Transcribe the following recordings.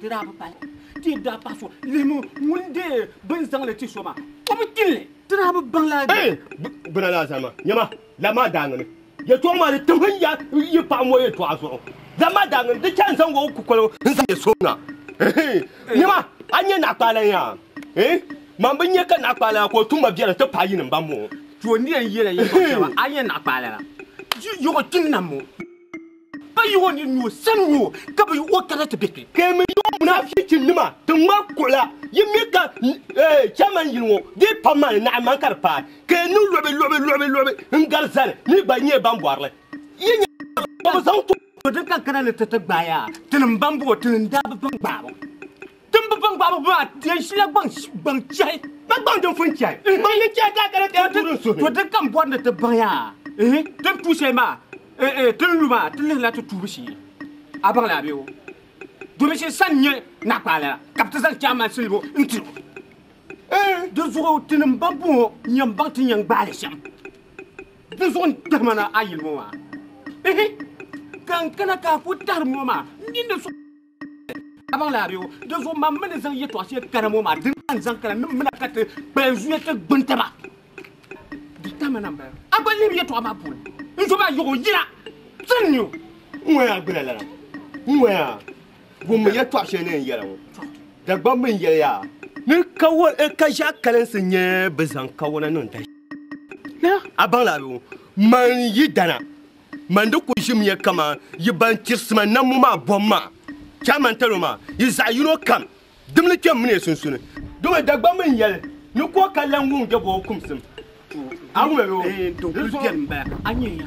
Di daa bi pahi o, ti daa pahi so lihimi ŋun deei bɛ ni zaŋ li ti so maa, o bi tin li. Ti daa bi baŋ lala dini. Gbuna ni Azama, nyama, lab maa daaŋini. Yɛtɔɣa maa di tim n ya yi paɣa ŋɔ yɛtɔɣa zuɣu. Lab maa daaŋini, di chɛ n zaŋ o kukoligu n zaŋ ya so na. Nyama, a nya Naa Kpaalaŋ yaa? Eeh, man bi nya ka Naa Kpaalaŋa ka o tum ma biɛri ti pahi yi ni m ba m-mo. Ti o ni yɛn yɛli a yɛtɔɣa shɛba, a nya Naa Kpaalaŋa, yi yɔɣi ti nam o. Ka yihi o nini ni o sani ŋɔ ka bi yihi o kana ti bɛ kpe. Ka yi mi yi o munaafichi nima ti ŋmari kuɣila yi mi ka chairman yili ŋɔ dii pam maa ni naɣim man ka di paai ka yi niŋ luɣibi luɣibi luɣibi luɣibi n gari zani mi gba yi nyɛla ban bɔri li yi nya ka bi zaŋ tɔbu din ka n kana ni ti ti gbaai a tinim ban bɔŋɔ tinim daa bi baŋ gbaai ba. Timbu baŋgbaabu maa yɛn shila gbaŋ gbaŋ chɛhi. Ka gbaŋ din fun chɛhi. Gbaŋ din chɛhi daa kana ti yɛn tuuri n suhi. To din kam bɔri ni ti baŋ ya ihi din tu shɛli maa eh eh tin lu maa ti lihirila ti tuubu shee. A baŋ li a bee o? Domin shɛli sani nyɛ naɣikpaɣa lala ka bɛ ti zaŋ chairman silibo n ti o. Di zuɣu ti ni mba buŋɔ n yɛn baŋ ti ni yɛn gbaai li shɛm. Di zuɣu n tahim a ni a yili ŋɔ maa ihi ka n kana ka a ku tahiri ŋɔ maa n mi ni so. Kabaŋ laari o. Di zuɣu mam mi ni zaŋ yɛtɔɣ shɛli kana ŋɔ maa, di naa n-zaŋ kana ni m mina ka ti kpalim zuya ti gbini taba. Di tam a na m-bala. A gba lihimi yɛtɔɣ maa puuni. N zo maa yiɣi o yina. Sani n-nyɛ o. N ŋɔya a gbila lala. N ŋɔya a. Wummi yɛtɔɣ shɛli ni n yɛli ŋɔ. Dagbaŋ mi n yɛli ya a. Ni kawɔna ka ʒiɛɣu kalinsi nyɛ bɛ zaŋ kawɔna niŋ dahin shɛli. A baŋ laari o. Man yi dana Man di ku ʒimiya kaman yi ban chiri sima nammo maa bom maa. Chɛ a man tali o maa, yi zaɣ yino kam dimli kpɛm mini yi sunsuuni. Dama Dagbamba mini yɛli ni ku o ka lan wuŋ jɛbɔbu kumsim. A wum ya o ni zuhi.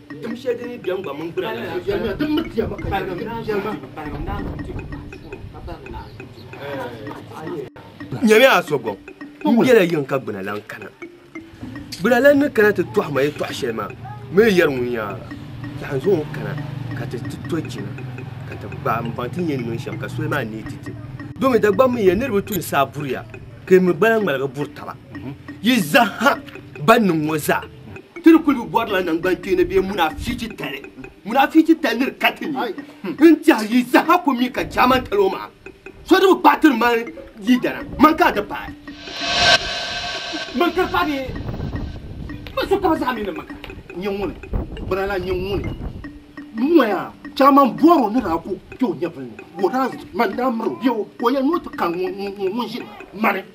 Tim shɛli din yi biɛŋ gba mini gbira la daa saɣim di mi diɛma ka Bahirim daa zaŋ ti o Bahirim daa zaŋ ti o puɣu ka Bahirim daa zaŋ ti o Nyami a so gɔŋ n bela yiŋ ka gbina lan kana gbina lan ni kana ti tɔhi ma yi tɔhi shɛli maa mi yɛri ŋun yaa lahi zaŋ o kana ka ti ti to jina ka ti gbaai n baŋ ti nyɛ niŋ shɛm ka soli maa neei ti ti domi Dagbam mi ya niriba tuni saa buriya ka yi mi gba lan ŋmaligi buri taba yi zaha ban niŋ ŋɔ zaa Ti ni kuli bi bɔrila naŋgbankpeeni bee munaafichi titali. Munaafichi tali ni di ka ti ni n tɛhi yi saha ku mi ka chairman tali o maŋa. So di bi paai tiri man leader na, man ka a ti paai. Man ka di paai bee? Man so kaba zaa mi ni man ka. Nyɛ ŋuni, bana la nyɛ ŋuni noya chairman bɔri o ni daa ku kpe o nyɛvili ni, ka o daa man daa miri o bee o yɛli ni o ti kari ŋun ʒiri mani.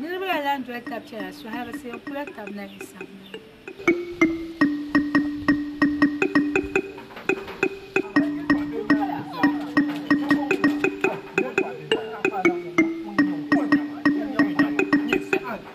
niriba la lan doli tab chɛna suhirisi n kula tab na yi sam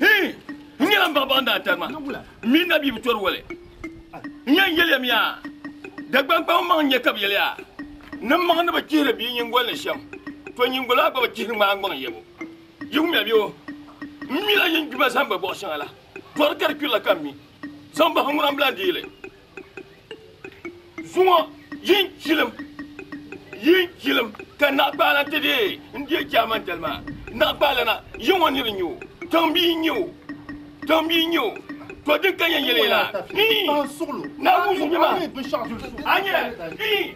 Hii! N nyɛla m ba baŋ daa tari ma, m mini na bia bi tɔri wali. N yɛn yɛliya mi yaa, Dagbaŋ kpam n maŋ n nya ka bi yɛliya ni m maŋ ni bi chihiri bia nyingoli ni shɛm, to nyingoli maa gba bi chihiri ŋmaa gbaŋ yɛbu. Yi wumya bɛ o? M mila yin gbima zaŋ gba bɔɣ shɛŋa la, tɔri ka di kpirila ka m mi, zaŋ bahi ŋuna m bi lan deei li. Zuŋɔ yi n chilim yi n chilim ka naɣikpaalana ti deei n-deei Jaamani dali maa. Naɣikpaalana yi ŋɔ nir n-nyɛ o, tiŋ bia n-nyɛ o, tiŋ bia n-nyɛ o. To din ka yɛn yɛli ya la, ii, Naawuni zuɣu nyɛma, a nyɛ, ii.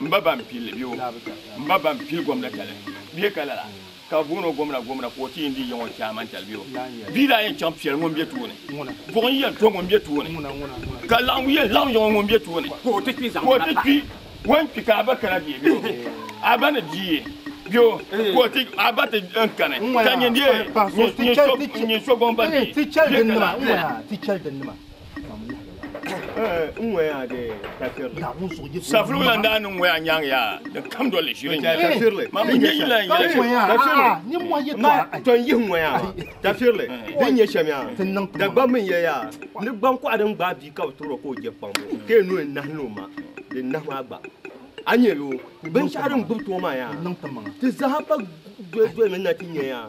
M ba ban pilli bɛ o M ba ban pili gomna tali bɛ ka lala ka boon o gomna gomna ka o ti yindi yiŋ o chairman tali bɛ o bia daa yɛn chaŋ piɛli ŋun bɛ tooni buɣi n yɛn to ŋun bɛ tooni ka laɣim yɛn laɣim yiŋ ŋun bɛ tooni ka o ti kpi ka o ti kpi wan kpi ka a ba kana bɛ bɛ o a ba ni di ye bɛ o ka o ti a ba ti n kani ka nyindi ye nyɛ so nyɛ so gomba bɛ bɛ ka lala Safiri la daa niŋ ŋɔya nyaŋ yaa di kam doli ʒiri nyɛ ma mi nyɛ yila n yɛli tɔn yihi ŋɔya tafirili din nyɛ shɛm yaa dagbam mi yɛ yaa ni gbankɔɣu din gbaai bia ka bi tuuro ka o jɛ kpaŋ ka yɛ noli nahi ni o ma di nahi maa gba a nyɛ lo binshɛɣu din gbubi too maa yaa ti zaha pa doli doli ni na ti nyɛ yaa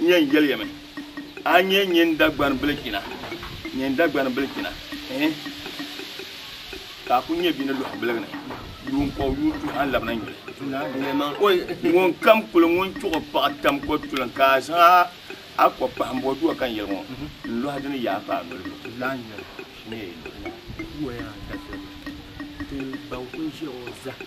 n yɛn yɛliya mi, a nyɛ nyin Dagbani bilichina, nyin Dagbani bilichina, ɛɛ, ka a ku nyɛ bɛ ni lɔhi biligi ni yuun kɔg yuun tuhi a labina nyuli. Ŋunkam kuli ŋun chuɣu paɣa tam kɔtulim ka a zaŋ a kɔ kpahim bɔ duwa ka n yɛli ŋɔ, n lɔhi di ni yaa pa a noli zuɣu.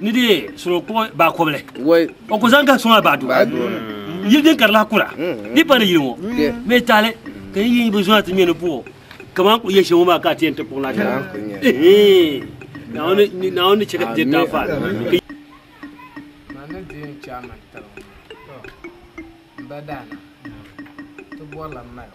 ni di soro kpuɣi baa kɔbili o ku zaŋ ka sɔŋ a baa duu yili din kari lahi kura di pa ni yili ŋɔ mɛ taali ka yi yi bi zɔna ti ŋmɛ ni buɣo kamani ku yɛ shɛm ŋɔ maa ka a ti yɛn ti kpuɣi na shɛm naawuni ni chɛ ka ti daa faali Mbadana ti bɔrila mali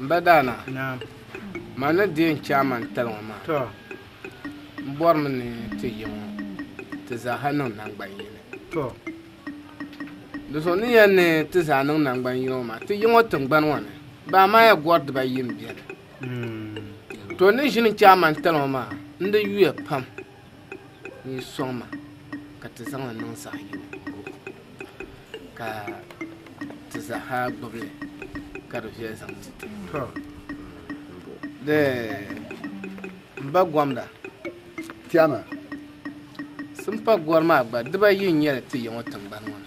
M ba Daana, man ni deei n-chɛ a man tali ŋɔ maa, m bɔrimi ni ti yi ŋɔ ti zaaha niŋ naŋgban yini. Di zuɣu ni yɛn ni ti zaa niŋ naŋgban yini ŋɔ maa, ti yi ŋɔ tiŋgbani ŋɔ ni, bɛ Amaaya gɔri dibaayi m-beni. To ni ʒini n-chɛ a man tali ŋɔ maa, n di yuya pam. yi sɔŋ ma ka ti zaŋ li niŋ saha yini ka ti zaaha gbubi li ka di viɛli zaŋ ti ti n ba gomda tɛma simpa gɔri maa gba diba yi n nyɛli ti yɛŋɔ tiŋgbani ŋɔ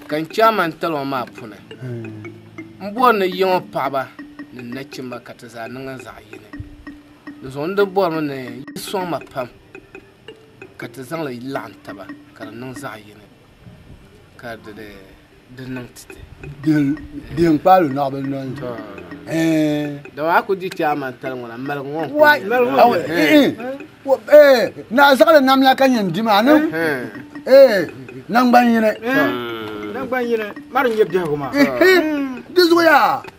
ka n chaama n talima maa puni n bɔri ni yɛŋɔ paɣaba ni nachimba ka ti zaa niŋ zaɣ yini Di zuɣu n di bɔrimi ni yi sɔŋ ma pam ka ti zaŋ li laɣim taba ka di niŋ zaɣ yini ka di di niŋ ti ti. Biɛn kpaalo naɣ bi noli. Dama a ku di chɛ a man tali ŋɔ la maligu ŋɔ. Na zaɣili nam la ka nyɛ n di maa ni naŋgban yini. Naŋgban yini mari nyɛ biɛhigu maa. Di zuɣu yaa.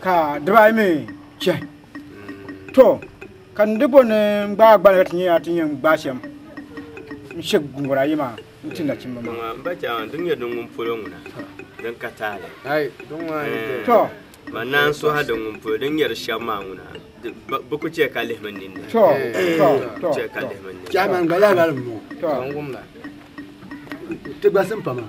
ka dibaa yi mi chɛhi to ka n dibbo ni n gbaai gbali ka ti nyɛ yaa ti nyɛ n gbaa shɛm n shɛ gungura ayi maa n ti nachimba maa Ŋɔ mba chaŋ din nyɛ din ŋun polo ŋuna din ka taali Hai din ŋɔ ayi bɛ to ma naan suha din ŋun polo din nyɛ di shɛm maa ŋuna di- ba- bi ku chɛ ka lihi min ninni to to to chɛ ka lihi min ninni Chairman gba laa lali m-bɔŋɔ. to Ti gba simpa maa.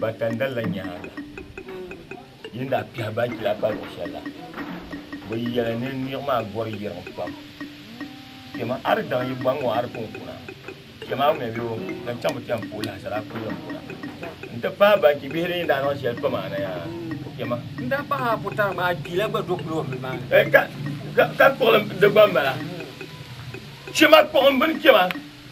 Ba tandali la nyaaŋa yi ni daa kpɛhi ban kpila pali o shɛli la, bɛ yɛli ni niɣi maa gɔri yiriŋ pam. Chɛma a di daŋ yi bɔŋ ŋɔ a di pun kuna, chɛma a ŋmɛbi o ka chaŋ bi kpɛm puhi lahasara a kuli yɛn kuna n-ti paai ban kpi bihi din yi daa niŋ shɛli pam a naya kpɛma. N daa pahi a putana maa a kpila gba do kuli o mini maa ni. Ka kpuɣilim di gba m-bala. Chɛma kpuɣimbini kpɛma.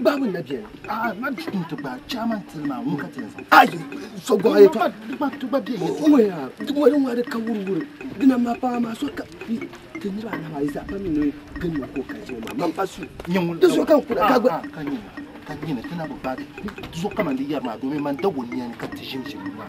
Babu na biɛni. Ah, ma bi tum ti gba chairman tili maa ŋun ka ti yɛn zaŋ. Ayi, so gɔɣa yɛ fa. Ti gba ti gba bɛ yɛ. Ŋun yaa, ti wali ŋun adi ka wuri wuri. Dina ma paɣa maa so ka ti niriba anahi maa yi zaa pam mi ni gin ni ko ka jiri maa. Man pa su. Nyɛ ŋun. Ti so ka n kura ka gba. Ka nyina ka nyina ti na bi baagi. Ti so ka man di yɛri maa domin man da wunniya ni ka ti ʒim ʒim maa.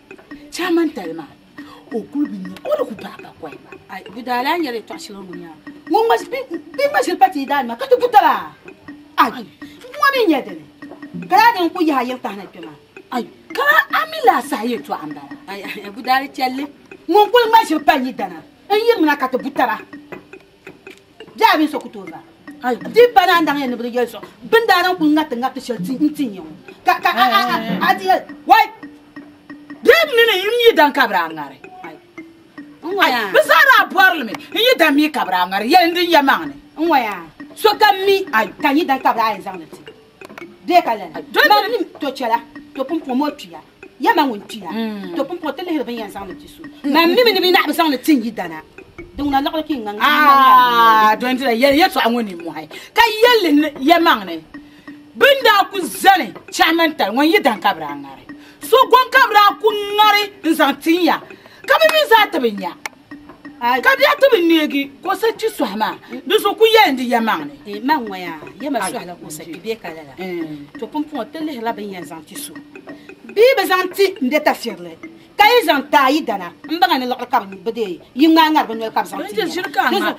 Chamantali maa o kuli bi nya o di ku bahi ka kɔhi ba. Ai di daa lahi nyɛla yɛtɔɣ shɛli ŋun nya ŋun ŋma bɛ ŋma shili pa ti yi daa nima ka ti ku taba. Ai ŋɔ mi nyɛ dini ka daa din ku yahi yili kahina kpɛ maa. Ai ka a mi lahi sahi yɛtɔɣ m-bala. Ai Budaali chɛlli ŋun kuli ŋma shili pa yi dana n-yiri mi na ka ti bu taba. Jaabi so ku tooi va. Di pa naan daŋ ya ni bi di yɛli so bin daa naŋ kuli ŋariti ŋariti shɛli n ti nya ŋɔ. Ka ka a a a a ti yɛli wai bee mi mi n yi dan ka bi daa ŋari. Ai bi zaa daa bɔri li mi n yi dan mi ka bi daa ŋari yɛli din ya maŋ ni. N ŋɔ yaa so kam mi ai ka n yi dan ka bi daa yɛn zaŋ li ti bee ka lala. Maŋ ni to chɛla to pun pom o tuya. Ya ma ŋun kpina, to pumpɔŋɔ ti lihiri bɛ ni yɛn zaŋ ni ti so. Ma mi mi ni bɛ naɣibu zaŋ ni ti n yidana. Di ŋuna liɣiri ka yi ŋan gari n-niŋ ya ni bɛ yɛli. Dondina, yɛli yɛtɔɣa ŋɔ nimmɔhi, ka yɛli li yɛmaŋ ni, Bɛ ni daa ku zani chɛhi mani tali ŋɔ n-yidan ka bɛ daa ŋari. So gɔŋ ka bɛ daa ku ŋari n-zaŋ ti n ya, ka bɛ mi zaa ti bi nya. Ka di yaa ti bi neegi kɔsa kpi sɔhi maa, di zuɣu ku yɛli n di yɛlimaŋli ni. Di maŋ ŋɔya, yɛma sɔhi la kɔsa kpi bee ka lala? To pumpɔŋɔ ti lihirila bɛ ni yɛn zaŋ ti so bee bɛ zaŋ ti n be tafirili ka yi zaŋ ti a yidana m-baŋa ni liɣiri ka bɛ bi dee yi ŋmaai ŋari bɛ noli ka bɛ zaŋ ti n yɛla.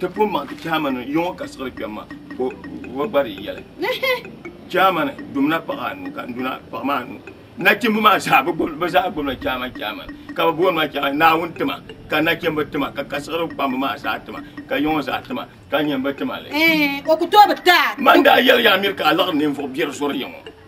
Ti pun maŋ ti chairman ni yɔŋɔ ka siɣiri kpɛm ma ka o gba di yɛli. Chairman dumna paɣa anu ka nduna paɣa maa anu. Nachimba maa zaa bɛ zaa gbubila chairman chairman ka bɛ booni ma chairman Naawuni tima ka nachimba tima ka kasiɣiri kpamba maa zaa tima ka yɔŋɔ zaa tima ka nyini bɛ tima li. O ku tooi bi daa. Man daa yɛli ya Amir ka a laɣiri ninvuɣ biɛri zɔri ya ŋɔ.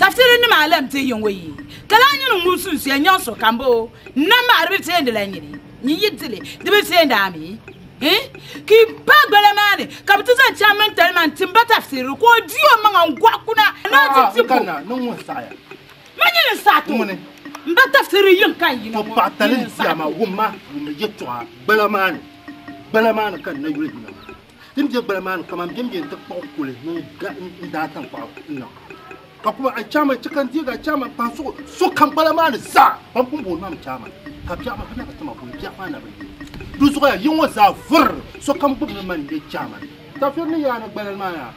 Tafsiri nim a lɛm ti yiŋ o yi ka lahi nyini ŋun sunsuya nyaŋ so ka m-bo o n-nam ma a di bi teendi la nyini nyin yi di li di bi teendi a mi n ki pa gbala maa ni ka bɛ ti zaŋ chaŋ mini talima n-tim ba tafsiri ka o di o maŋa n-gɔɣi kuna a naa ti di ko ma nyini n-saɣi ti o m ba tafsiri yiŋ ka n yina ŋɔ nyini n-saɣi ti o. Din be gbali maa ni kaman bem beni ti kpuɣi kuli mini daa tankpaɣu n-niŋ. Ka kuma a chaama chɛ ka n deeg a chaama m-pahi so so kam gbala maa ni zaa. Bɛn pun booni ma mi chaama, ka biɛɣu maa, ka daa ka ti ma boli biɛɣu maa na bi yuli. Di zuɣuya yi ŋɔ zaa vurr, sokam gbibimi man n-nyɛ chaama. Tafir ni yaa ni gbalal maa yaa.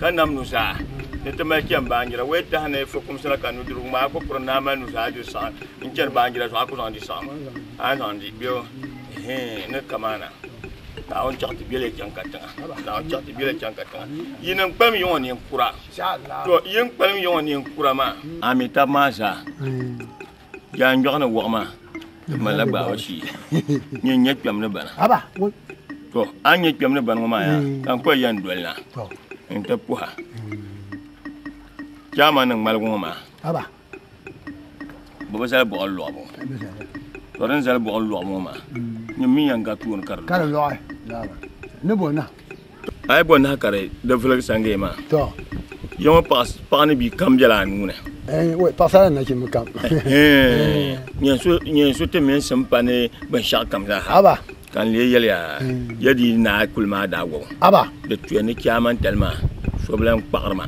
Ka nam nuzaa ni ti mali chani baanjira wee tahi ni fukumsi la ka nudirigu ŋmaa ku piri ni a mali nuzaa diri saɣim n-chani baanjira zuɣu a ku zaŋ di saɣim a ni zaŋ di bɛ o hii ni kamaana Naawuni chaɣ ti beli chaŋ katiŋa Naawuni chaɣ ti beli chaŋ katiŋa yi ni kpalim yiŋ o neen kura to yi ni kpalim yiŋ o neen kura maa. Amin tab maa zaa. Yaa n yɔɣu ni wɔɣu maa di malila gbaaba shee nyɛ n nyɛ kpɛm ni bana to a nyɛ kpɛm ni bani ŋɔ maa yaa ka n kɔli yɛn doli na n ti puha chaama ni ŋmaligu ŋɔ maa bi bi zali bɔɣili lɔɣibu to din zali bɔɣili lɔɣibu ŋɔ maa nyɛ mi yɛn ga tooni ka di lɔɣi ni bɔ na A yi bɔ nahi ka di di viligi Sangaye maa, To. ya ŋɔ paɣa paɣa ni bia kam bela a nuu ni. Eh, wai, paɣasara ni nachimba kam. Hee, nyɛ so nyɛ so ti mini sim pa ni binshɛɣu kam zaa ha. Aba. Ka n lee yɛliya, ya di naa kuli maa daa wɔbu. Aba. Di tuya ni chɛ a mantali maa, so bi lan kpaɣiri ma.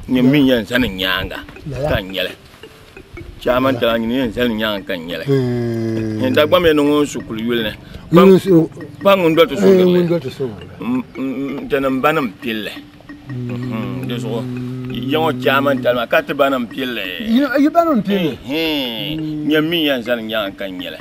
Nyɛ m mi yɛn zani n nyaaŋa, Lala. ka n nyɛli. Chaama n tala nyini yɛn zali nyaanga ka n nyɛli n dagbam yɛn niŋ ŋun su kuli yuli ni kpa ŋun doli ti sugirili n tani n ba nim pilli di zuɣu yɛŋɔ chaama n tali maa ka ti ba nim pilli nyɛ min yɛn zali nyaanga ka n nyɛli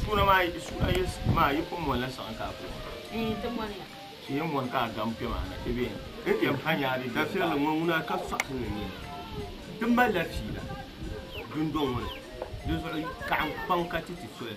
Suuna maa suuna yi maa yi pun mɔnila saɣim ka a kuli mɔna. Ee ti mɔniya. Ti yɛn mɔni ka a gam kpɛma na ti bɛ yɛn ti yɛn pa nyaari. Dafirili ŋɔ ŋuna ka sɔɣisi ni nyɛ ti malila fiila dundɔŋ ŋɔ ni di zuɣu kaɣim kpaŋ ka ti ti soli.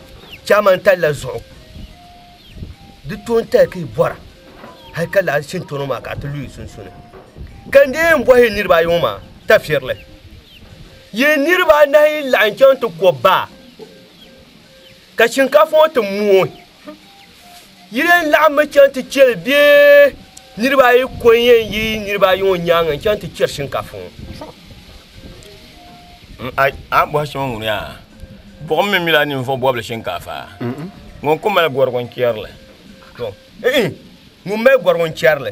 chama n tali la zuɣu di to n tali ka i bɔra hali ka laɣa shintono maa ka a ti lu i sunsuuni ka n deei n bɔhi yi niriba ayi ŋɔ maa tafirili yi niriba anahi laɣim chaŋ ti ko baa ka shinkaafa ŋɔ ti mooi Yi leen laɣimmi chaŋ ti chɛ li bee? Niriba ayi ko n-yɛn yi niriba ayi ŋɔ nyaaŋa n-chaŋ ti chɛri shinkaafa ŋɔ. A bɔhi so ŋun yaa, buɣim mi mila ninvuɣ bɔbili shinkaafa? Ŋun ku mali gɔrigu n-chɛri li. Ŋun mali gɔrigu n-chɛri li.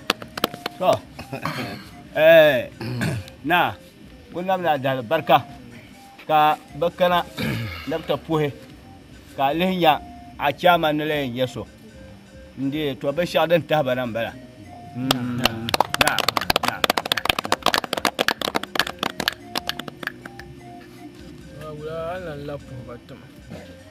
naa ku nabila adali barika ka bi kana ni bi ti puhi ka a lihi nya a chairman ni la yɛn nyɛ so n deei to binshɛɣu din tahi ba na n bala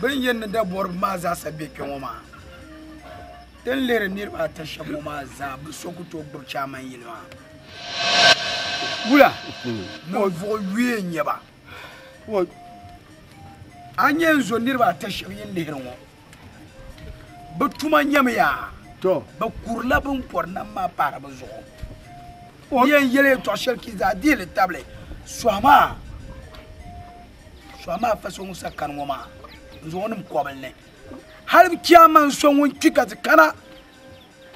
Bin yɛn ni dabɔriba maa zaasa be kpe ŋɔ maa, ti ni lihiri niriba ata shɛba ŋɔ maa zaa bi so ku tooi gbubi chairman yili maa. Wula ninvuɣ yuya n-nyɛ ba. A ni yɛn zo niriba ata shɛba yɛn lihiri ŋɔ. Bɛ tuma nyɛmi yaa. To. Bɛ kurila bɛ ni pɔri nam maa pahiri bɛ zuɣu. O. N yɛn yɛli yɛtɔɣ shɛli ka yi zaa dihi li tabili, Sɔhi maa, sɔhi maa fa so ŋun sa kani ŋɔ maa n-zaŋ o niŋ kɔbili ni. Hal bi chɛ a maŋ so ŋun kpi ka ti kana,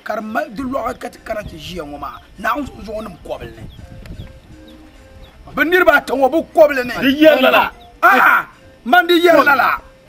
ka di mali di lɔɣu ka ti kana ti ʒiya ŋɔ maa, Naawuni zuɣu n-zaŋ o niŋ kɔbili ni. Bɛ niriba ata ŋɔ bɛ kɔbili ni. Di yɛri lala. Ahaa! Man di yɛri lala.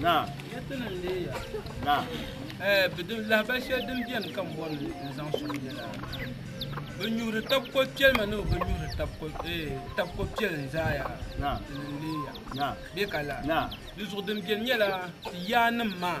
Naam. Naam. Eh, bidin lahabali shɛli din biɛni ka n bɔri ni n zaŋ suŋ nyɛla bi nyuhiri tab ko piɛli ma ni bi nyuhiri tab ko eh, tab ko piɛli n zaaya Naam. din n leeya Naam. bɛ ka la Naam. di zuɣu din biɛni nyɛla ti yaa nim maa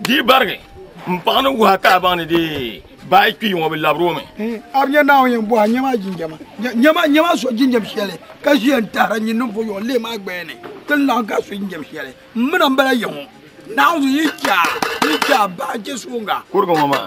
Di barigi n paɣa ni wuha ka a baŋ ni dee baa kpi ŋɔ bi labiri o mi. A bi nya Naawuni yɛn bɔha nyɛ maa jinjama. Nyɛ maa nyɛ maa so jinjam shɛli ka ʒiya n tahira nyin ninvuɣu yɔɔ leei maa gbaya ni ti ni laɣim ka so jinjam shɛli. M mina m-bala ya ŋɔ. Naawuni yi che a yi che a baa je suŋga. Kuriga ŋɔ maa.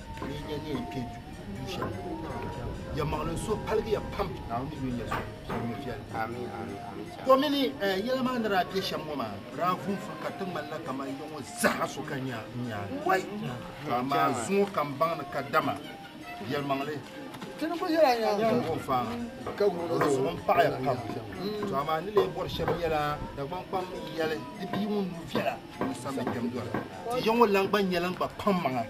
ya maɣilim so paligi ya pam naawuni ni yunya so sɔrimi viɛli ko mini yɛla maa ni daa bɛ shɛm ŋɔ maa daa vunfuri ka ti ŋmanila kamar ya ŋɔ zaha so ka nya wai ka maa zuŋɔ kam baŋ ni ka dama yɛli maŋli zuɣu paɣaya pam to amaa ni lee bɔri shɛba yɛla dagbaŋ kpam yɛli di bia ŋun nu viɛla ni sambi kpɛm dɔla ti ya ŋɔ lan gba nyɛla n gba kpaŋ maŋa